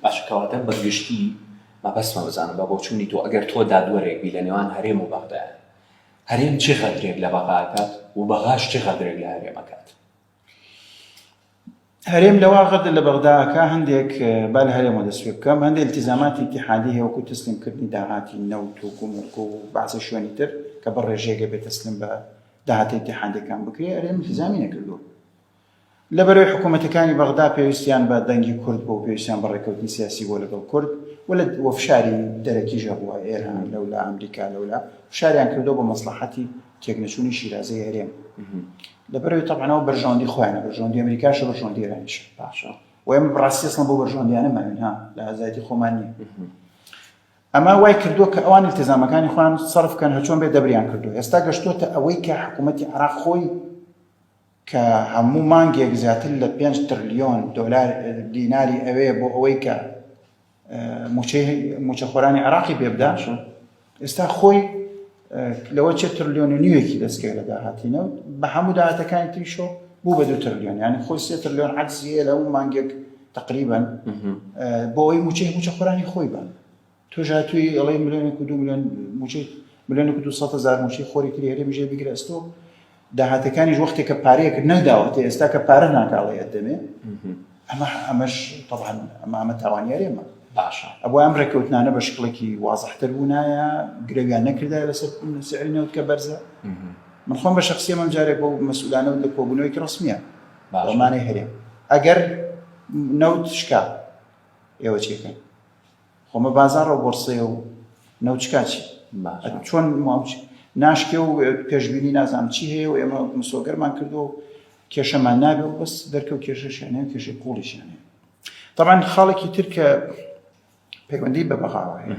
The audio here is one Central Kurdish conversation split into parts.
باشە کەواتە بە گشتی مەبەستمە بزانم بە بۆچوونی تۆ ئەگەر تۆ دادوەرێک بی لە نێوان هەرێم و بەغدایە هەرێم چی غەدرێک لە بەغا ئەکات و بەغاش چی غەدرێک لە هەرێم ئەکات هەرێم لەوا غەدر لە بەغدا ئەکا هەندێک با لە هەرێمەوە دەست پێ بکەم هەندێک التزاماتی اتحادی هەیە وەکو تەسلیمکردنی داهاتی نەوت و گومرک و بەعزە شوێنی تر کە بە ڕێژەیەگە بێ تەسلیم بە داهاتی اتحادەکان بکرێ هەرێم التزامی نەکردووە لەبەرەی حکوومەتەکانی بەغدا پێویستیان بە دەنگی کورد بوو، پێویستیان بە ڕێککەوتنی سیاسی بوو لەگەڵ کورد و لە و فشاری دەرەکیش هەبووە، ئێران لەولا، ئەمریکا لەولا، فشاریان کردووە بۆ مەسڵەحەتی تێکنەچوونی شیرازەی هەرێم. لەبەرەوەی تەبعەن ئەوە بەرژەوەندی خۆیانە، بەرژەوەندی ئەمریکاشە، بەرژەوەندی ئێرانیشە. باشە. و ئێمە بە ڕاستی ئەسڵەن بەو بەرژەوەندییانە ماوین، ها، لە ئازادی خۆمان نین. ئەمە وای کردووە کە ئەوان ئیلتیزامەکانی خۆیان سەرف بکەن، هەرچۆن بێت دەبریان کردووە. ئێستا گەشتووەتە ئەوەی کە حکوومەتی عێراق خۆی، کە هەموو مانگێک زیاتر لە پێنج ترلیۆن دۆلار دیناری ئەوێ بۆ ئەوەی کە موچەی موچەخۆرانی عێراقی پێ بدات ئێستا خۆی لەوە چه ترلیۆن و نیوێکی دەستکەی لە داهاتینە بە هەموو داهاتەکانی تریشۆ بوو بە دوو ترلیۆن یانی خۆی سێ ترلیۆن عەجزیە لە هەموو مانگێک تقریبا بۆ ئەوی موچەی موچەخۆرانی خۆی بە تۆش هاتووی ئەڵێی ملیۆنێک و دوو ملیۆن مووچەی ملیۆنێک و دوو سەد هەزار مووچەی خۆری تری هەرێمی ژێ بگرە ئەستۆ داهاتەکانیش وەختێک کە پارەیەکت نەداوەتە ئێستا کە پارە ناکاڵێ ئەدەمێ ئەمە ئەمەش طبعا ئەمە ئەمە تاوانیاری ئەمە باشە ئەوە ئەم ڕێککەوتنانە بە شکڵێکی وازحتر بوونایە گرەویان نەکردا لەسەر سعری نەوت کە بەرزە من خۆم بە شخصی من جارێک بۆ مەسولانە و لە کۆبوونەوەی ڕسمیە بەمانەی هەرێ ئەگەر نەوت شکا ئێوە چێکن خۆ مە بازاڕە و بۆرسەیە و نەوچکا چی؟ باشە. چۆن ماوچ ناشکێ و پێشبینی نازانم چی هەیە و ئێمە مسۆگەرمان کردو و کێشەمان نابێ و بەس دەرکەوت کێشەشیانێ و کێشەی قوڵیشیانێ طبعاان خاڵێکی تر کە پەیوەندی بە بەغاوە هەیە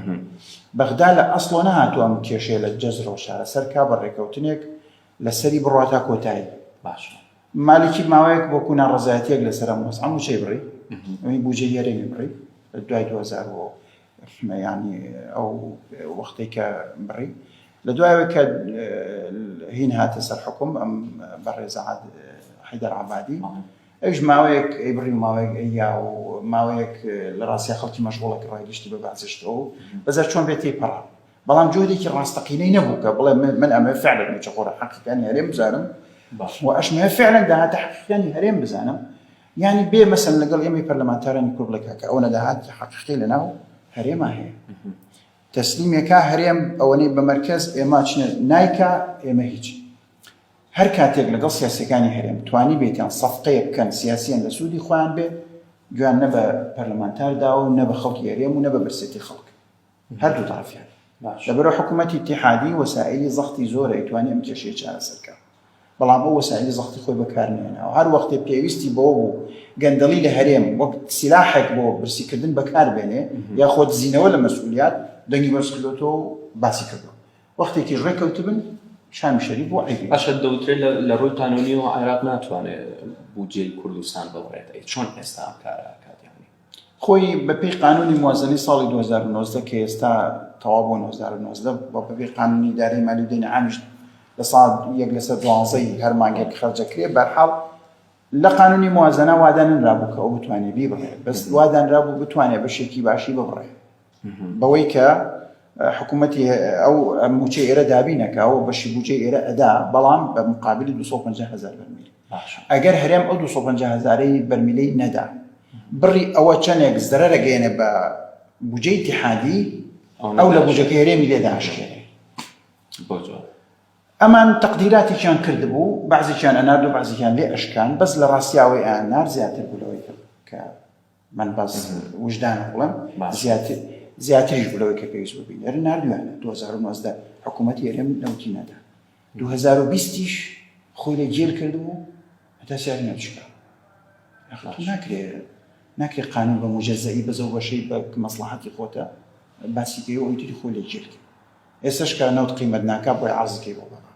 بەغدا لە ئەسڵۆ نەهاتووەم کێشێ لە جەزرۆ شارە سەر کا بە ڕێکەوتنێک لەسەری بڕاتە کۆتایی باشە. مالکی ماوەیەک بۆ کو ناڕەزایەتیەک لە سەرم وەس ئەم وچەی بڕی ئەوی بوجە یەرێمی بڕی دوای 2000 بۆ ینی ئەو وەختێک کە بڕی لە دوایەوە کە هین هاتە سەر حکوم ئەم بەڕێزە حیدەر عبادی ئەوش ماوەیەک ئەی بڕی ماوەیەک ئەیا و ماوەیەک لە ڕاستە خەڵکی مەشغوڵە کە ڕای گشتی بە بەعزشتەوە بەزار چۆن بێتی پەڕە بەڵام جۆرێکی ڕاستەقینەی نەبوو کە بڵێ من ئەمەوێ فعلا مووچەخۆرە حەقیقیانی هەرێم بزانم و ئەشمەوێ فعلا داهاتە حەقیقیانی هەرێم بزانم یعنی بێ مەسەن لەگەڵ ئێمەی پەرلەمانتارانی کورد بڵێ کاکە ئەوەنە داهاتی حەقیقی لەناو هەرێما هەیە تەسلیمێکا هەرێم ئەوەنەی بە مەرکەز ئێمە چنە نایکا ئێمە هیچ هەر کاتێک لەگەڵ سیاسەکانی هەرێم توانی بێتیان سەفتەیە بکەن سیاسیان لە سوودی خۆیان بێت گویان نە بە پەرلەمانتار داوە و نە بە خەڵکی هەرێم و نە بە برسێتی خەڵک هەردوو تەڕەفیان لە بەرەو حکوومەتی ئیتیحادی وەسائیلی زەختی زۆرە ئەیتوانی ئەم کێشەیە چارەسەر کا بەڵام ئەو وەسائیلی زەختی خۆی بەکارنێناوە هەر وەختێ پێویستی بەوە بوو گەندەڵی لە هەرێم وەک سیلاحێک بۆ برسیکردن بەکاربێنێ یا خۆ دزینەوە لە مەسئولیات دەنگی بەرزکردۆتەوە و باسی کردو وەختێکی ڕێکەوتبن شامی شەریف بۆ عیبی باشە دەوترێت لە ڕووی قانونیەوە عێراق ناتوانێت بودجەی کوردستان بڵێت ئەی چۆن ئێستا ئەم کارە ئەکات یانی خۆی بە پێی قانونی موازەنەی ساڵی دوو هەزار و نۆزدە کە ئێستا تەواو بۆ دوو هەزار و نۆزدە و بە پێی قانونی ئیدارەی مالی و دەینی عامیش لە ساڵ یەک لەسەر دوانزەی هەر مانگێک خەرجەکرێ بەرحاڵ لە قانونی موازەنە واداننرابوو کە ئەو بتوانێ بیبڕێ بەس وادانرابوو بتوانێ بەشێکی باشی ببڕێ بەوەی کە حکوومەتی ئەو موچە ئێرە دابی نەکاوە بەشی بجێ ئێرە ئەدا بەڵام بە مقابلی 250 هزار بەرمیل ئەگەر هەرێم ئەو 250 هزارەی بەرمیلەی نەدا بڕی ئەوە چەندێک زەرەرە گەێنە بە بجەی تحادی ئەو لە بجەکە هەرێمی لێداشکێنێ ئەمان تەقدیراتێکیان کرد بوو بەزیان ئەنارد و بەزیان لێ ئەشکان بەس لە ڕاستیاوەی ئەنار زیاتر بلەوەی کە من بەس وژدانم بڵێم زیاتر زیاتریش بوو لەوەی کە پێویست بوو بینێرن نردویان لە 2009 حکوومەتی هەرێم نەوتی نەدا 2020یش خۆی لە جێل کردبوو هەتا سیاری نەچکە ناکرێ ناکرێ قانون بە مجەزایی بەزە بەشەی بە مەسلحاتی خۆتە باسی پێ ئەویتری خۆی لە جێل کرد ئێسش کە نەوت قیمەت ناکە بۆی عزکەی بۆ بەڵام